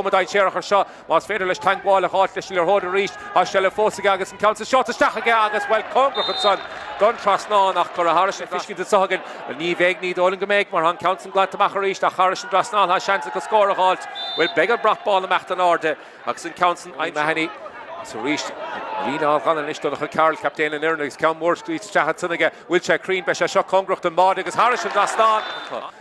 chuma dainséarach air seo. Más féidir leis teagmháil a dh'fháilt leis an liathróid arís, tá seilbh fós aige agus an ceann san seolta isteach aige agus, bhuel, cóngarach ansan don trasnán ach cuireadh thairis an tuiscint anso againn go ní bheidh, ní dóigh liom go mbeidh, mar tá an ceann san glanta amach arís ach thairis an trasnán tá seans acu scór a dh'fháilt. Bhuel, beidh an brat bán amach in airde agus an ceann san aimsithe. Mahony agus arís ag líne á ghannadh anois, Donncha Carroll, captaen an fhoireann agus ceann mór scaoilte isteach ansan aige. Bhfuil sé cruinn, beidh sé seo cóngarach don bháide agus thairis an trasnán.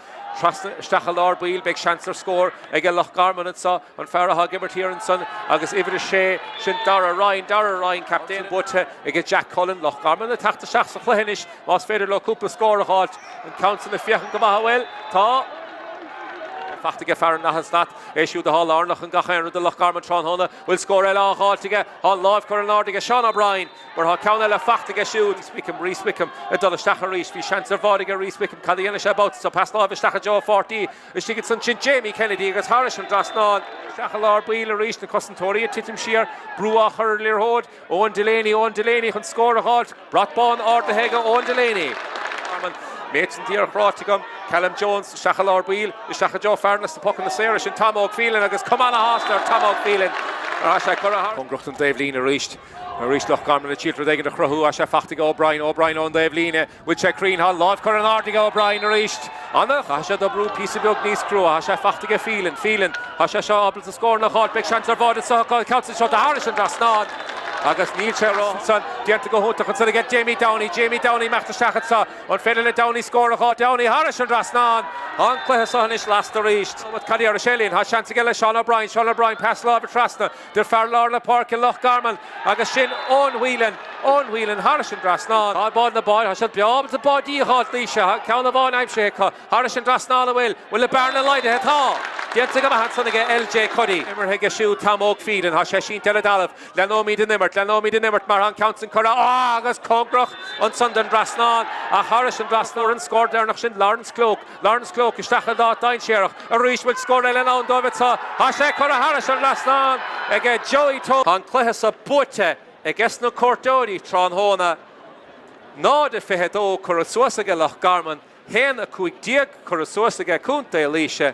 Trasna, isteach i lár baill, beidh seans ar scór aige Loch Garman anseo, an fear atá ag imirt thiar ansan agus uimhir a sé, sin Darragh Ryan, Darragh Ryan captaen, buaite aige Jack Cullen, Loch Garman le teacht isteach sa chluiche anois más féidir leo cúpla scór a dh'fháilt, an ceann san ag féachaint go maith ó bhuel tá. faighte aige fear an Nath Stat, é siúd athá lárnach in gach aon rud do Loch Garman tráthnóna, bhfuil scór eile á dh'fháilt aige, thá an láimh curtha in airde aige Seán O'Brien, Mar tá ceann eile faighte aige siúd, Wickham, Rhys Wickham ag dul isteach arís. Bhí seans ar bháide aige Rhys Wickham, cad a dhéanfaidh sé babhta seo? Pas láimhe isteach i dtreo a pháirtí istigh aige ansan, Jamie Kennedy agus thairis an trasnán, isteach i lár baill arís, na cosantóirí ag titim siar, brú á chur ar an liathróid, Eoin Delaney, Eoin Delaney chun scór a dh'fháilt, brat bán ardaithe aige Eoin Delaney. An méid sin díreach ráite agam, Callum Jones isteach i lár baill, isteach i dtreo fear na pocanna saora, sin Tom Óg Phelan agus cuma ana-shásta ar Tom Óg Phelan mar tá sé curtha thar a ghnách. Cóngarach don taobhlíne arís. Arís Loch Garman le triail rud éigin a chruthú, tá sé faighte ag O'Brien, O'Brien ón dtaobh líne, bhfuil sé cruinn, thá an láimh curtha in airde aige, O'Brien arís, Anna, chaithfidh sé d'oibriú píosa beag níos crua, tá sé faighte aige, Phelan, Phelan, tá sé seo ábalta scóranna a fháilt, beidh seans ar bháide anseo, an ceann san seolta thairis an trasnán, agus níl sé romham, déanta go hiontach ansan aige, Jamie Downey, Jamie Downey ag imeacht isteach anseo, an féidir le Downey scór a fháilt, Downey thairis an trasnán, tá an cluiche seo anois lasta arís, cad é air a sé linn, tá seans aige Seán O'Brien, Seán O'Brien, pas láimhe trasna. Dtí fear lár na páirce Loch Garman agus sin Eoin Whelan, Eoin Whelan thairis an dtrasnán. Tá bád na báid, tá siad beo ábalta báidí a dh'fháilt, Laois, tá ceann amháin aimsithe acu thairis an dtrasnán a bhfuil, bhfuil an bearna laghdaithe, tá! déanta go maith ansan aige LJ Cuddy. Imeartha aige siúd Tom Óg Phelan, tá sé sínte ar an dtalamh, le nóimid in imirt, le nóimid in imirt mar tá an ceann san curtha, á agus cóngarach ansan don dtrasnán ach thairis an dtrasnán an scór deireanach sin Laurence Cloke, Laurence Cloke isteach in áit dainséarach arís bhfuil scór eile i ndán dóibh anseo. Tá sé curtha thairis an trasnán ag Joey Toal. Tá an cluiche seo buaite aiges na cuairteoirí tráthnóna, 0-22 curtha suas aige Loch Garman, 1-15 curtha suas aige Contae Laoise.